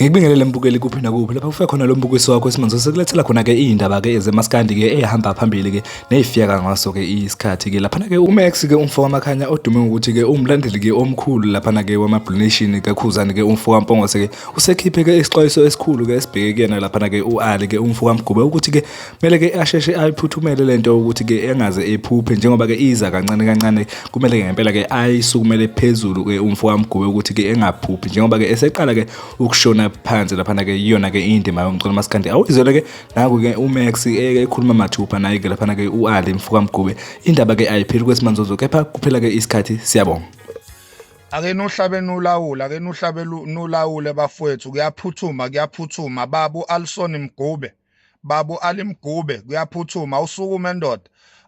Ngikubingelele mbukeli kuphi nakuphi lapha kufe khona lo mbukiso wakho esimanje sekulethela khona ke indaba ke ezemaskandi ke ehamba phambili ke neyifiyeka ngaso ke isikhathi ke lapha ke uMax ke umfo wamakhanya odume ngokuthi ke umlandeli ke omkhulu lapha ke wama Blue Nation ke khuzani ke umfo waMpongose ke usekhiphe ke isixwayiso esikhulu ke esibheke kuyena lapha ke uAli ke umfo kaMgube ukuthi ke kumele ke asheshe ayiphuthumele lento ukuthi ke engaze ephuphe njengoba ke iza kancane kancane kumele ke ngempela ke ayisukumele phezulu ke umfo kamgube ukuthi ke engaphuphi njengoba ke eseqala ke ukushona phansi lapha ke iyona ke indima yomculo masikandi awuyizwele ke naku ke uMax ekhuluma mathupha naye ke lapha ke uAli mfo kamgube indaba ke ayipheli kwesimanzozo kepha kuphela ke isikhathi siyabonga ake nuhlabe nulawula ake nuhlabe nulawule bafowethu kuyaphuthuma kuyaphuthuma babu Alison Mgube Babu Ali Mgube kuyaphuthuma usukume ndoda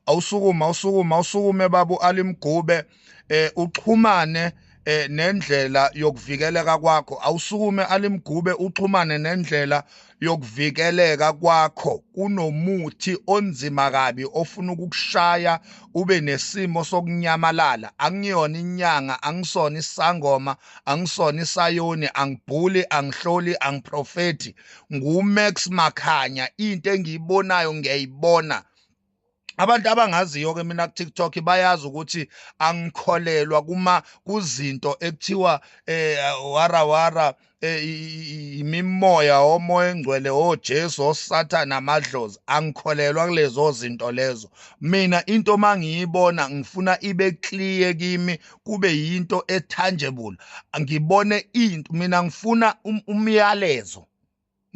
awusukume awusukume awusukume babu Ali Mgube eh uxhumane eh nendlela yokuvikeleka kwakho awusukume Ali Mgube uxhumane nendlela yokuvikeleka kwakho kunomuthi onzima kabi ofuna ukukushaya ube nesimo sokunyamalala angiyona inyanga angisona isangoma angisona isayoni angibhuli angihloli angiprofethi nguMax Makhanya into engiyibonayo ngiyayibona abantu abangaziyo ke mina ku TikTok bayazi ukuthi angikholelwa kuma kuzinto ekuthiwa eh wara wara eh, imimoya omoya engcwele oJesu oh, oSathana oh, amadlozi angikholelwa kulezo zinto lezo mina into mangiyibona ngifuna ibe clear kimi kube yinto etangible ngibone into mina ngifuna um, umyalezo um,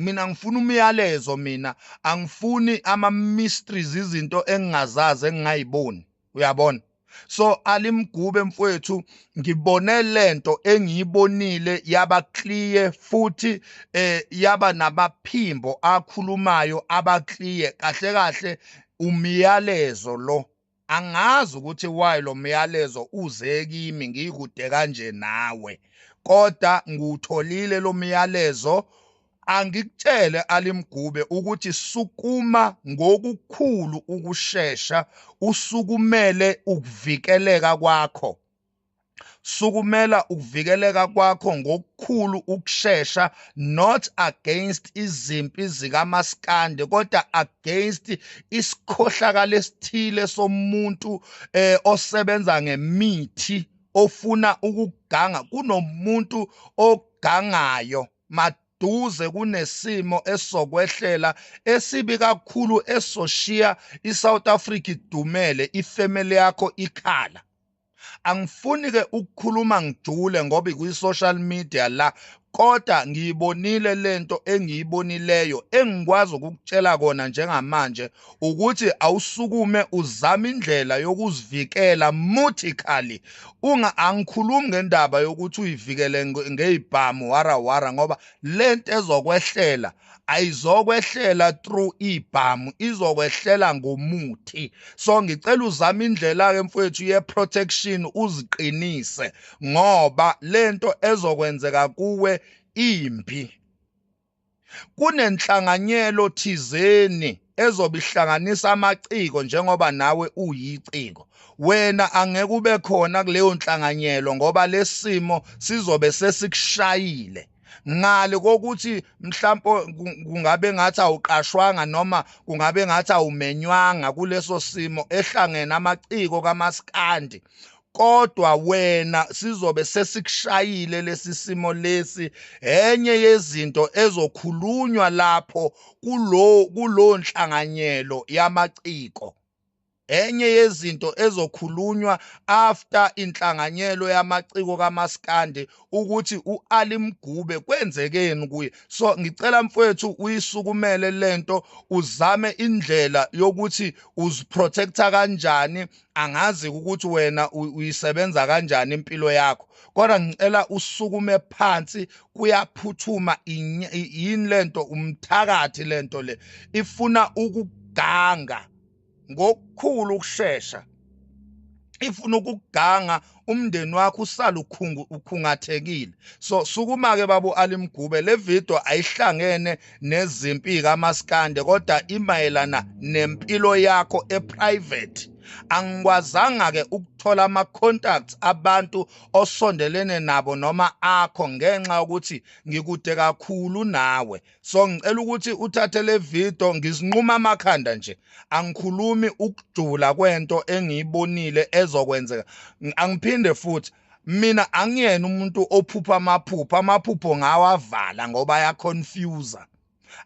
mina ngifuna umyalezo mina angifuni ama mysteries izinto engingazazi engingayiboni uyabona so alimgube mfowethu ngibone lento engiyibonile yaba clear futhi eh yaba nabaphimbo akhulumayo aba clear kahle kahle umyalezo lo Angazi ukuthi why lo myalezo uze kimi ngikude kanje nawe kodwa ngiwutholile lo myalezo angikutshele alimgube ukuthi sukuma ngokukhulu ukushesha usukumele ukuvikeleka kwakho sukumela ukuvikeleka kwakho ngokukhulu ukushesha not against izimpi zikamaskandi kodwa against isikhohlakala esithile somuntu eh osebenza ngemithi ofuna ukuganga kunomuntu ogangayo maduze kunesimo esokwehlela esibi kakhulu esoshiya iSouth Africa idumele ifamily yakho ikhala angifuni ke ukukhuluma ngijule ngoba ikwi-social media la kodwa ngiyibonile lento engiyibonileyo engikwazi ukukutshela kona njengamanje ukuthi awusukume uzame indlela yokuzivikela mutically unga angikhulumi ngendaba yokuthi uyivikele ngeyibhamu wara wara ngoba lento ezokwehlela ayizokwehlela through ibhamu izokwehlela ngomuthi so ngicela uzame indlela ke mfowethu ye protection uziqinise ngoba lento ezokwenzeka kuwe imbi kunenhlanganyelo thizeni ezobe ihlanganisa amaciko njengoba nawe uyiciko wena angeke ube khona kuleyo nhlanganyelo ngoba lesimo sizobe sesikushayile ngale kokuthi mhlawumbe kungabe ngathi awuqashwanga noma kungabe ngathi awumenywanga kuleso simo ehlangene amaciko kamaskandi kodwa wena sizobe sesikushayile lesi simo lesi enye yezinto ezokhulunywa lapho kulo kulonhlanganyelo yamaciko Enye yezinto ezokhulunywa after inhlanganyelo yamaciko kamaskandi ukuthi uAli Mgube kwenzekeni kuye so ngicela mfwethu uyisukumele lento uzame indlela yokuthi uziprotecta kanjani angazi ukuthi wena uyisebenza kanjani impilo yakho kodwa ngicela usukume phansi kuyaphuthuma yini lento umthakathi lento le ifuna ukuganga ngokukhulu ukushesha ifuna ukuganga umndeni wakho usala ukhungathekile so sukuma ke babu alimgube le video ayihlangene nezimpi kamaskande kodwa imayelana nempilo yakho eprivate angikwazanga ke ukuthola ama contacts abantu osondelene nabo noma akho ngenxa ukuthi ngikude kakhulu nawe so ngicela ukuthi uthathe le video ngizinquma amakhanda nje angikhulumi ukujula kwento engiyibonile ezokwenzeka angiphinde futhi mina angiyena umuntu ophupha amaphupho amaphupho ngawavala ngoba ayaconfuse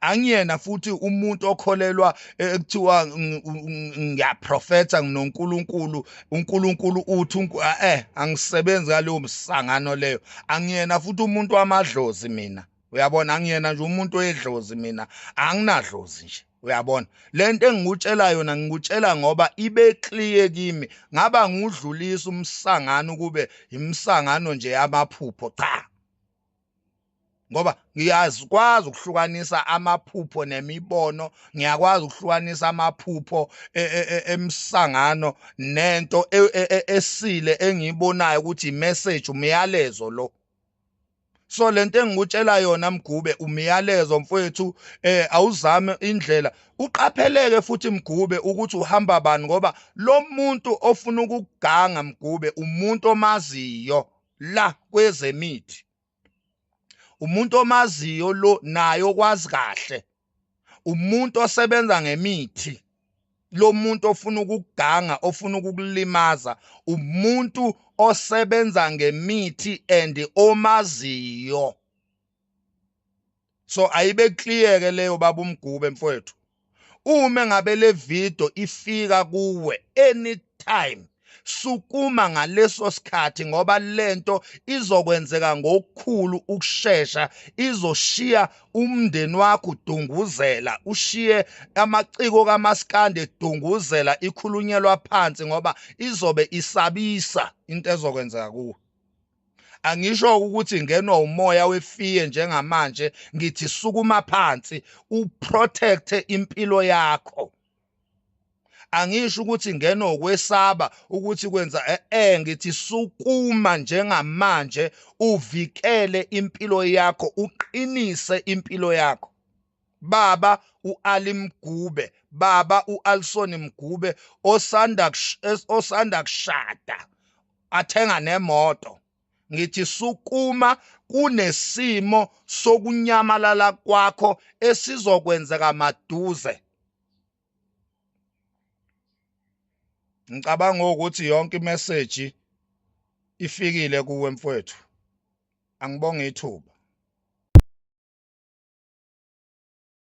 angiyena futhi umuntu okholelwa eh, ekuthiwa ngiyaprofetha nginoNkulunkulu uNkulunkulu uthi eh, eh angisebenzi ngaleyo msangano leyo angiyena futhi umuntu wamadlozi mina uyabona angiyena nje umuntu oyedlozi mina anginadlozi nje uyabona lento engikutshela yona ngikutshela ngoba ibe clear kimi ngaba ngudlulisa umsangano kube imsangano nje yamaphupho cha ngoba ngiyazikwazi ukuhlukanisa amaphupho nemibono ngiyakwazi ukuhlukanisa amaphupho e, e, e, emsangano nento esile engiyibonayo ukuthi message umyalezo lo so lento engikutshela yona mgube umyalezo mfowethu eh awuzame indlela uqapheleke futhi mgube ukuthi uhamba bani ngoba lo muntu ofuna ukuganga mgube umuntu omaziyo la kwezemithi umuntu omaziyo lo naye okwazi kahle umuntu osebenza ngemithi lo muntu ofuna ukuganga ofuna ukukulimaza umuntu osebenza ngemithi and omaziyo so ayibe clear ke leyo baba umgube mfowethu uma ngabe le video ifika kuwe anytime sukuma ngaleso sikhathi ngoba lento izokwenzeka ngokukhulu ukushesha izoshiya umndeni wakho udunguzela ushiye amaciko kamaskande edunguzela ikhulunyelwa phansi ngoba izobe isabisa into ezokwenzeka kuwe angisho ukuthi ngenwa umoya wefiye njengamanje ngithi sukuma phansi uprotect impilo yakho angisho ukuthi ngena okwesaba ukuthi kwenza eh, eh ngithi sukuma njengamanje uvikele impilo yakho uqinise impilo yakho baba uAli Mgube baba uAlson Mgube osanda osanda kushada athenga nemoto ngithi sukuma kunesimo sokunyamalala kwakho esizokwenzeka maduze ngicabanga ukuthi yonke imeseji ifikile kuwe mfwethu angibonge ithuba